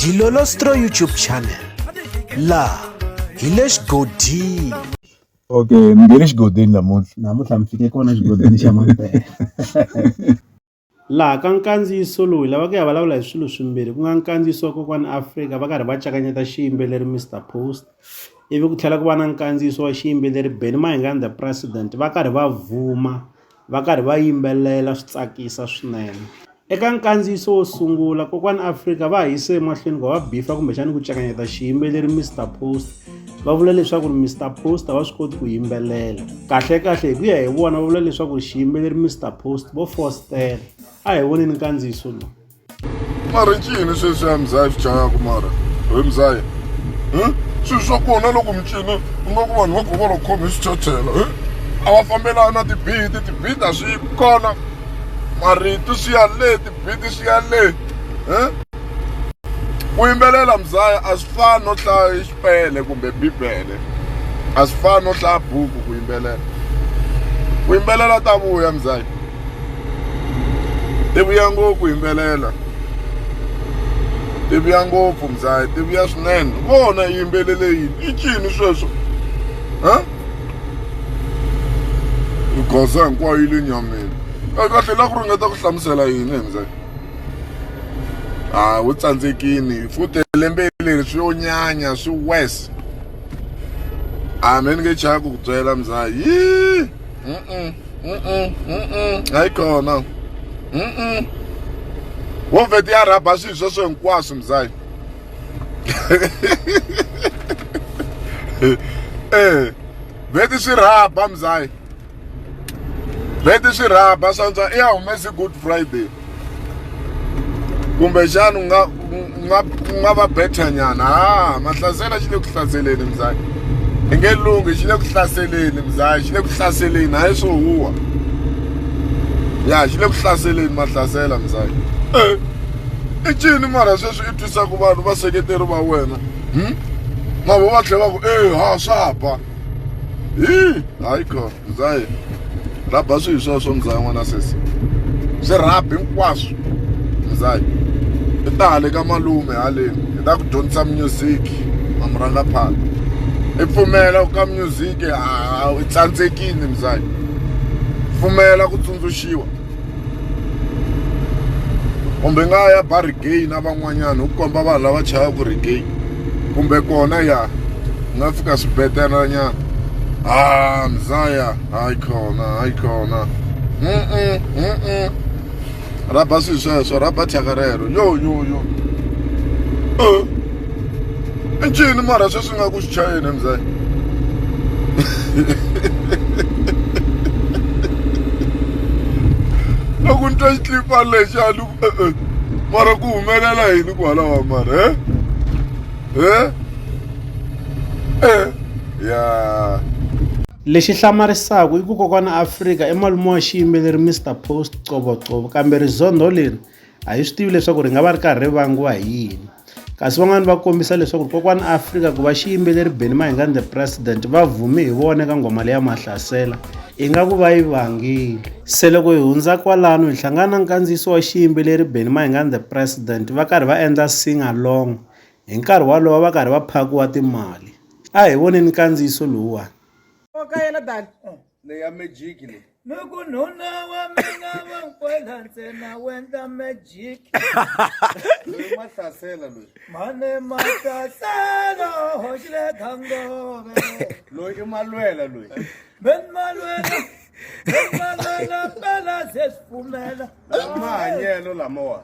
Dilolostro YouTube channel la hi le xigodini okay mi nge le xigodini namuntlha namuntlha mi fike kona xigodini xa mampela laha ka nkandziyiso lowu lava ku ya vulavula hi swilo swimbirhi ku nga nkandziyiso wa kokwani afrika va karhi va cakanyeta xiyimbeleri mr post ivi ku tlhela ku va na nkandziyiso wa xiyimbeleri benny mahingani the president va karhi va vuma va karhi va yimbelela swi tsakisa swinene eka nkandziyiso wo sungula kokwani afrika va ha yise emahlweni ku va va bifa kumbexani ku cekanyeta xiyimbeleri mr post va vula leswaku ri mr post a va swi koti ku yimbelela kahlekahle hi ku ya hi vona va vula leswaku ri xiyimbeleri mr post vo fostela a hi voneni nkandziyiso lowu mara ncini sweswi ya mzayi swi chayaka mara we mzayi hmm? swilo swa kona loko micini u nga ku vanhu va govola ku khome swichachela hmm? a va fambelani na tibidi tibidi a swi kona marito swi ya le tibidi swi ya le hmm? ku yimbelela mzaya a swi fani no hlaya pele kumbe bibele a swi fani no hlaya buku ku yimbelela ku yimbelela ta vuya mzaki ti vuya ngopfu yimbelela ti vuya ngopfu mzaki ti vuya swinene vona yimbelele yini i cini sweswo ha goza hinkwayo yi le nyameni kahle la ku ringeta ku hlamusela yini hi mzaki a wu tsandzekini futhi lembe leri swi yo nyanya swi wes a me ni nge chaya ku ku byela mzaha yi hayi kona wo vheti ya rhaba swilo sweswo hinkwaswo mzahi e vheti swi rhaba mzahi leti swi rhaba swantswa i ya humesi good friday kumbexana u nga u nga u nga va bethanyana ha mahlasela xi le ku hlaseleni mzaki i nge lunghi xi le ku hlaseleni mzaki xi le ku hlaseleni hayi swo huwa ya xi le ku hlaseleni mahlasela mzaki e eh, i cini mara sweswi i twisaka vanhu vaseketeri va wena hmm? mavo va tlhela va ku e ha swa ba hi hayi kho zayi rhaba swihi swa swo mzaya n'wana sesi swi rhaba hinkwaswo mzaya i ta hale ka malume haleni hi ta ku dyondzisa music mamuranga phana i pfumela ku ka music i tsandzekini mzaya pfumela ku tsundzuxiwa kumbe nga ya ba regain na van'wanyana u komba vanhu lava chayaka regain kumbe kona ya nga fika swibedhlelanyana ha mzaya hayi khona hayi khona mm-mm, mm-mm. rhaba swilo sweswo rhaba thyaka rero yo yo yo uh. i ncini mara sweswi nga ku swi chayeni mzanyi loko ni twa xitlipa lexi a ni eh, eh, mara ku humelela yini ku halawa mara he he eh ya lexi hlamarisaka i ku kokwana afrika i malume wa xiyimbeleri mr post covocovo kambe rizondho leri A hi swi tivi leswaku ri nga va ri karhi ri vangiwa hi yini. Kasi van'wana va kombisa leswaku kokwana Afrika ku va xiyimbeleri Benny Mayengani the President va vhume hi vona eka nghoma leya Mahlasela ingaku va yi vangile. Se loko hi hundza kwalano hi hlangana na nkandziyiso wa xiyimbeleri Benny Mayengani the President va karhi va endla sing along hi nkarhi walowo va karhi va phakiwa timali. A hi voneni nkandziyiso lowuwani. na ya magic leyi loko nuna wa mina wa nkwela ntsena wendla magic loyi ma hlasela loyi mane matatela hoxile khangove loyi i malwela loyi ben malwela ben malwela mpela se swi pfumela mahanyelo lamawa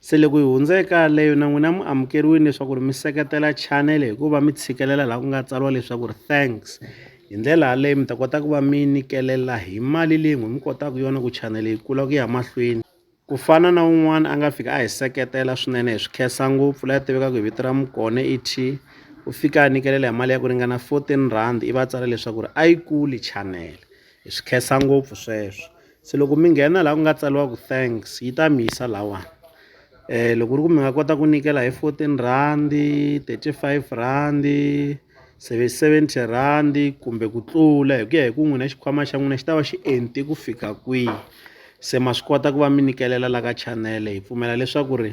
Se loko hi hundza eka leyo na n'wina mi amukeriwile leswaku ri mi seketela channel hikuva mi tshikelela laha ku nga tsariwa leswaku ri thanks hi ndlela yaleyo mi ta kota ku va mi nikelela hi mali leyi n'wi mi kotaka yona ku channel yi kula ku ya mahlweni ku fana na un'wana a nga fika a hi seketela swinene hi swi khensa ngopfu la tivekaka hi vito ra mukone et u fika a nikelela hi mali ya ku ringana 14 rand i va tsala leswaku ri a yi kuli channel hi swi khensa ngopfu sweswo se loko mi nghena laha ku nga tsariwa ku thanks yi ta mi yisa lahawani um loko ku ri ku mi nga kota ku nyikela hi fourteen rhandi thirty five rhandi seve seventy rhandi kumbe ku tlula hi ku ya hi ku n'wina xikhwama xa n'wina xi ta va xi enti ku fika kwihi se ma swi kota ku va mi nyikelela la ka chanele hi pfumela leswaku ri